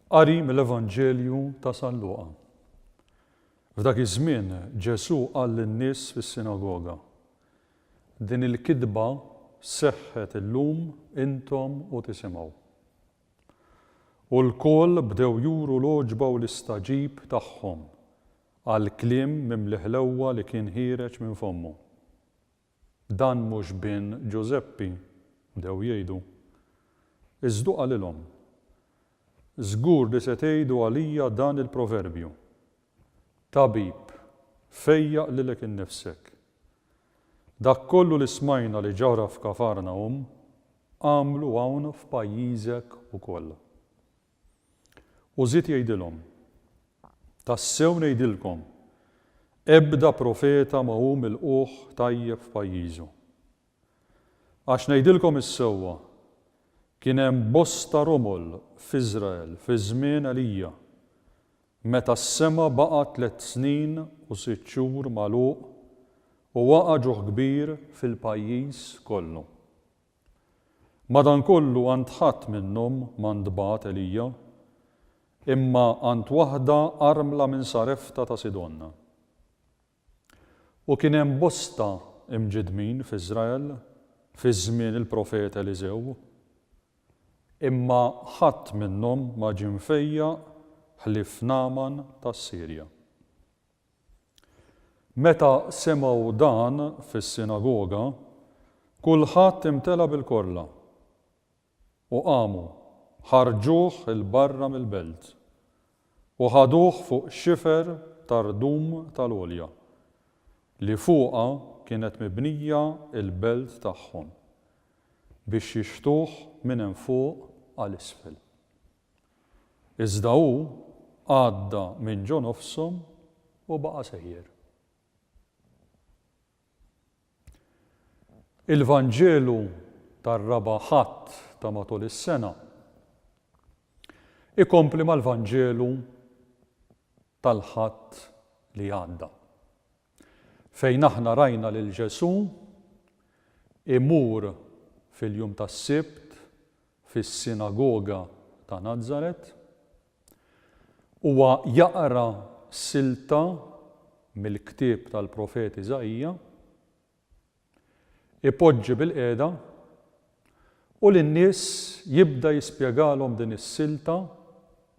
Qari mill-Evanġelju ta' San Luqa. F'dak iż-żmien Ġesù qal lin-nies fis-sinagoga, Din il-kitba seħħet illum intom u tisimgħu. U lkoll bdew juru l-għoġba u l-istagħġib tagħhom għall-kliem mimli ħlewwa li kien ħiereġ minn fommu. Dan mhux bin Ġużeppi, bdew jgħidu. Iżdu qalilhom, Żgur li se tgħidu għalija dan il-proverbju, Tabib, fejjaq lilek innifsek. Dak kollu li smajna li ġara f'Kafarnahum, agħmlu hawn f'pajjiżek ukoll. U żied jgħidilhom, Tassew ngħidilkom, ebda profeta ma hu milqugħ tajjeb f'pajjiżu. Għax ngħidilkom is-sewwa, kien hemm bosta romol f'Iżrael fi żmien Elija, meta s-sema baqa' tliet snin u sitt xhur magħluq u waqa' ġuħ kbir fil-pajjiż kollu. Madankollu għand ħadd minnhom ma ntbagħat Elija, imma għand waħda armla minn Sarefta ta' Sidon. U kien hemm bosta imġiddmin f'Iżrael fi żmien il-profeta Eliżew, imma ħadd minnhom ma ġie mfejjaq ħlief Nagħman tas-Sirja. Meta semgħu dan fis-sinagoga, kulħadd imtela' bil-korla, u qamu, ħarġuh 'il barra mill-belt, u ħaduh fuq xifer ta' rdum tal-għolja, li fuqha kienet mibnija l-belt tagħhom, biex jixħtuh minn hemm fuq għal isfel. Iżda hu għadda minn ġo nofshom u baqa' sejjer. Il-Vanġelu tar-raba' Ħadd ta' matul is-sena ikompli mal-Vanġelu tal-Ħadd li għadda, fejn aħna rajna lil Ġesù imur fil-jum tas-Sibt fis-sinagoga ta' Nazaret, huwa jaqra silta mill-ktieb tal-profet Iżaija, ipoġġi bilqiegħda u lin-nies jibda jispjegalhom din is-silta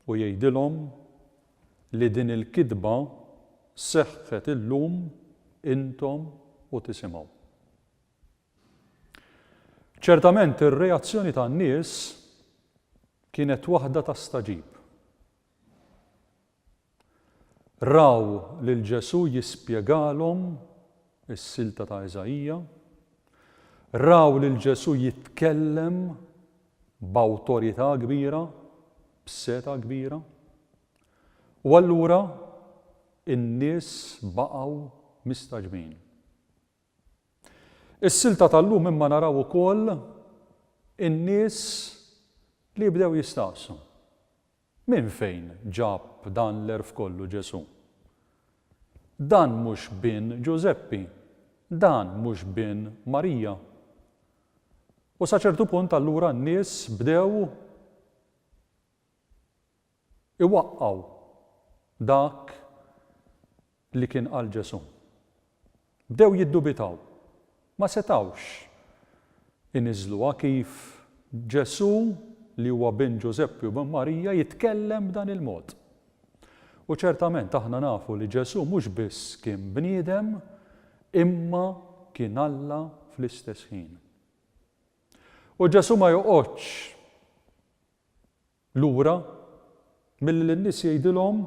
u jgħidilhom li din il-kitba seħħet illum intom u tisimgħu. Ċertament ir-reazzjoni tan-nies kienet waħda ta' stagħġib. Raw lil Ġesù jispjegalhom is-silta ta' Iżaija, raw lil Ġesù jitkellem b'awtorità kbira, b'seta' kbira, u allura in-nies baqgħu mistaġbin. Is-silta tal-lum imma naraw ukoll in-nies li jibdew jistaqsu, Minn fejn ġab dan l-għerf kollu Ġesù? Dan mhux bin Ġużeppi? Dan mhux bin Marija? U sa ċertu punt allura n-nies bdew iwaqqgħu dak li kien qal Ġesù. Bdew jiddubitaw. Ma setgħux iniżżluha kif Ġesù, li huwa bin Ġużeppi u bin Marija, jitkellem b'dan il-mod. U ċertament aħna nafu li Ġesù mhux biss kien bniedem, imma kien Alla fl-istess ħin. U Ġesù ma joqgħodx lura milli lin-nies jgħidilhom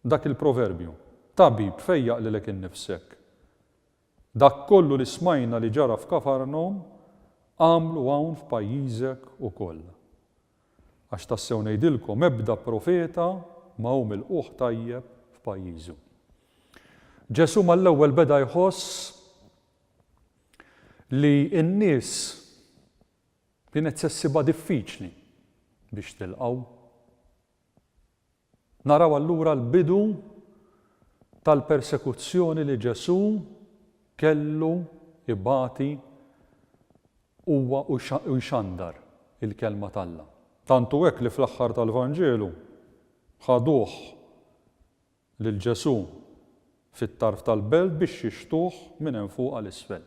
dak il-proverbju, Tabib, fejjaq lilek innifsek. Dak kollu li smajna li ġara f'Kafarnawm, agħmlu hawn f'pajjiżek ukoll. Għax tassew ngħidilkom, ebda profeta ma hu milqugħ tajjeb f'pajjiżu. Ġesù mal-ewwel beda jħoss li n-nies Kienet se ssibha diffiċli biex tilqgħu. Naraw allura l-bidu tal-persekuzzjoni li Ġesù kellu jbati huwa u jxandar il-kelma t'Alla. Tant hu hekk li fl-aħħar tal-Vanġelu ħaduh lil Ġesù fit-tarf tal-belt biex jixhtuh minn hemm fuq għal isfel.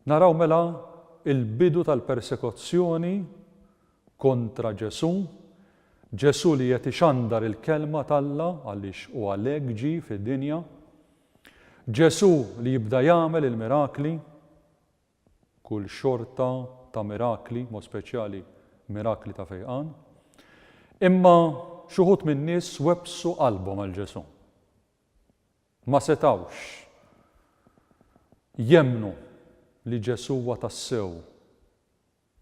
Naraw mela l-bidu tal-persekuzzjoni kontra Ġesù, Ġesù li qed ixandar il-kelma t'Alla għaliex hu għalhekk ġie fid-dinja, Ġesù li jibda jagħmel il-mirakli, kull xorta ta' mirakli, b'mod speċjali mirakli ta' fejqan. Imma xi wħud min-nies webbsu qalbhom għal Ġesù. Ma setgħux jemmnu li Ġesù huwa tassew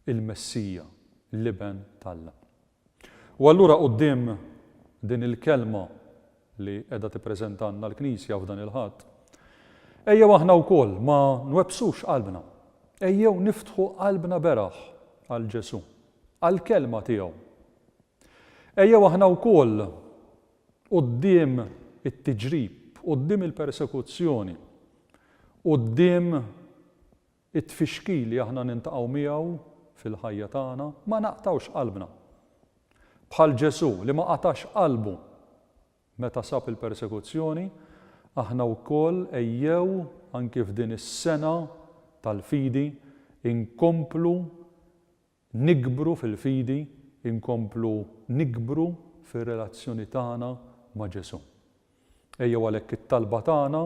il-Messija, l-Iben t'Alla. U allura quddiem din il-kelma li qiegħda tippreżentalna l-Knisja f'dan il-Ħadd, ejjew aħna wkoll ma nwebbsux qalbna. Ejjew niftħu qalbna beraħ għal Ġesù, għall-kelma tiegħu. Ejjew aħna wkoll quddiem it-tiġrib, quddiem il-persekuzzjoni, quddiem It-tfixkil li aħna niltaqgħu miegħu fil-ħajja tagħna ma naqtgħux qalbna. Bħal Ġesù li ma qatax qalbu meta sab il-persekuzzjoni, aħna wkoll ejjew anki f'din is-sena tal-fidi inkomplu Nikbru fil-fidi, inkomplu nikbru fir-relazzjoni tagħna ma' Ġesù. Ejjew għalhekk it-talba tagħna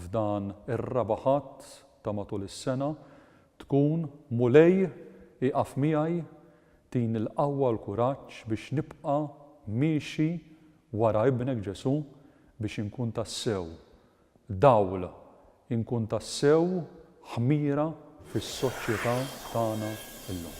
f'dan ir-Raba' Ħadd ta' matul is-sena tkun, Mulej, ieqaf miegħi, tini l-qawwa u l-kuraġġ biex nibqa' miexi wara Ibnek Ġesù biex inkun tassew Dawl, inkun tassew ħmira fis-soċjetà tagħna llum.